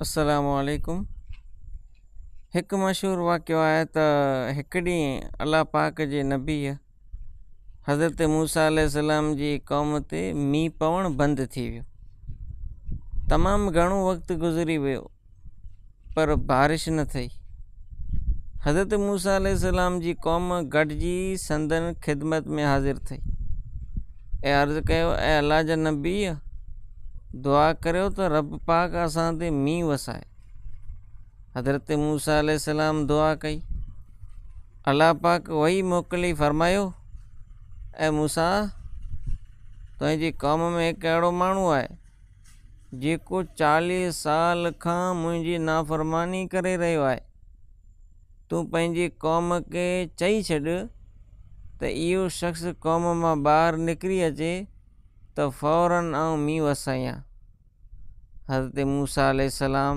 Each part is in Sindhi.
السلام عليڪم هڪ مشهور واقعو آهي ته هڪ ڏينهن الله پاڪ جي نبيء حضرت موسيٰ عليه السلام جي قوم تي مينهن پوڻ بند ٿي ويو تمام گهڻو وقت گذري ويو پر بارش نه ٿئي. حضرت موسيٰ عليه السلام جي قوم گڏجي سندن خدمت ۾ حاضر ٿئي ۽ عرض ڪيو، اي الله جا نبيء! دعا ڪريو ته رب پاڪ اسان تي مينهن وسائي. حضرت موسيٰ عليه السلام دعا ڪئي. الله پاڪ وحي موڪلي فرمايو، اي موسيٰ! تنهنجي قوم ۾ هڪ اهڙو ماڻهو آهي، جيڪو چاليهه سال کان منهنجي نافرماني ڪري رهيو آهي. تون پنهنجي قوم کي چئي ڇڏ ته اهو شخص قوم مان ٻاهر نڪري اچي ته فوراً آئون مينهن وسايان. حضرت موسيٰ عليه السلام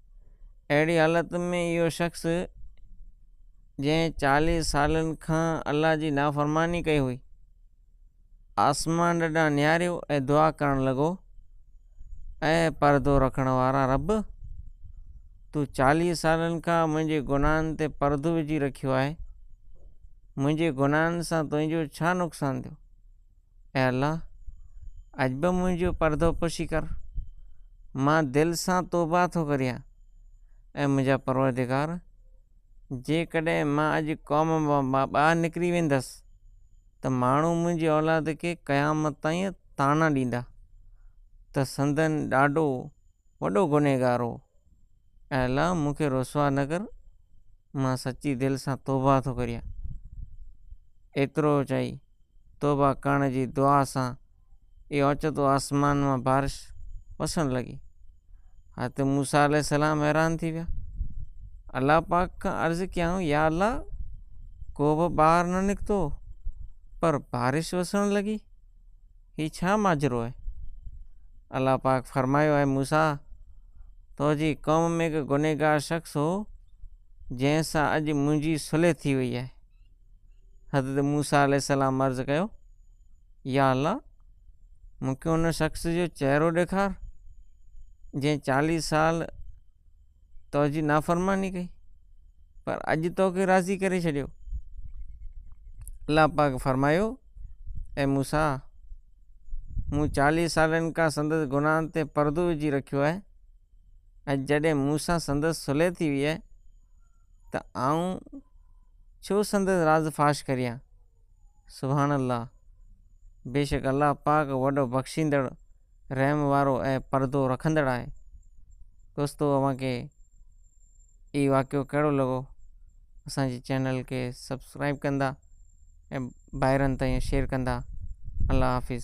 اهڙي حالت ۾ اهو شخص جنهن چاليهه سالن کان الله جي نافرماني ڪئي هئي، آسمان ڏانهن نهاريو ۽ دعا ڪرڻ لڳو، اي پردو رکڻ وارا رب! تون چاليهه سالن کان منهنجي گناهن تي پردو وجهي رکيو آهي، منهنجي گناهن سان تنهنجو ڇا نقصان ٿيو؟ اي الله! اڄ به منهنجو پردو پوشي ڪر، مان دل سان توبهه ٿو ڪريان. اي منهنجا پروردگار! جيڪڏهن مان اڄ قوم مان ٻاهر نڪري ويندس ته ماڻهو منهنجي اولاد کي قيامت تائين طعنا ڏيندا ته سندن ڏاڏو، وڏو گنهگار هو. اي الله مون کي رسوا نه ڪر مان سچي دل سان توبه ٿو ڪريان. ايترو چئي توبه ڪرڻ جي دعا سان ئي اوچتو آسمان مان بارش وسڻ لڳي. حضرت موسيٰ عليه السلام حيران ٿي ويا. الله پاڪ کان عرض ڪيائون يا الله ڪو به ٻاهر نه نڪتو پر بارش وسڻ لڳي. هي ڇا ماجرو آهي؟ الله پاڪ فرمايو، اي موسيٰ! تو جي قوم ۾ هڪ گنهگار شخص هو، جنهن سان اڄ منهنجي صلح ٿي وئي آهي. حضرت موسيٰ عليه السلام عرض ڪيو، يا الله! مون کي ان شخص جو چهرو ڏيکار، جنهن چاليهه سال تو جي نافرماني ڪئي پر اڄ تو کي راضي ڪري ڇڏيو الله پاڪ فرمايو اي موسا مون چاليهه سالن کان سندس گناهن تي پردو وجھي رکيو آهي ۽ جڏهن مون سان سندس صلح ٿي وئي آهي ته آئون ڇو سندس راز فاش ڪريان سبحان الله بيشڪ الله پاڪ وڏو بخشيندڙ رحم وارو ۽ پردو رکندڙ آهي. دوستو اوهان کي هي واقعو ڪهڙو لڳو اسان جي چينل کي سبسڪرائيب ڪندا ۽ ڀائرن تائين شيئر ڪندا الله حافظ.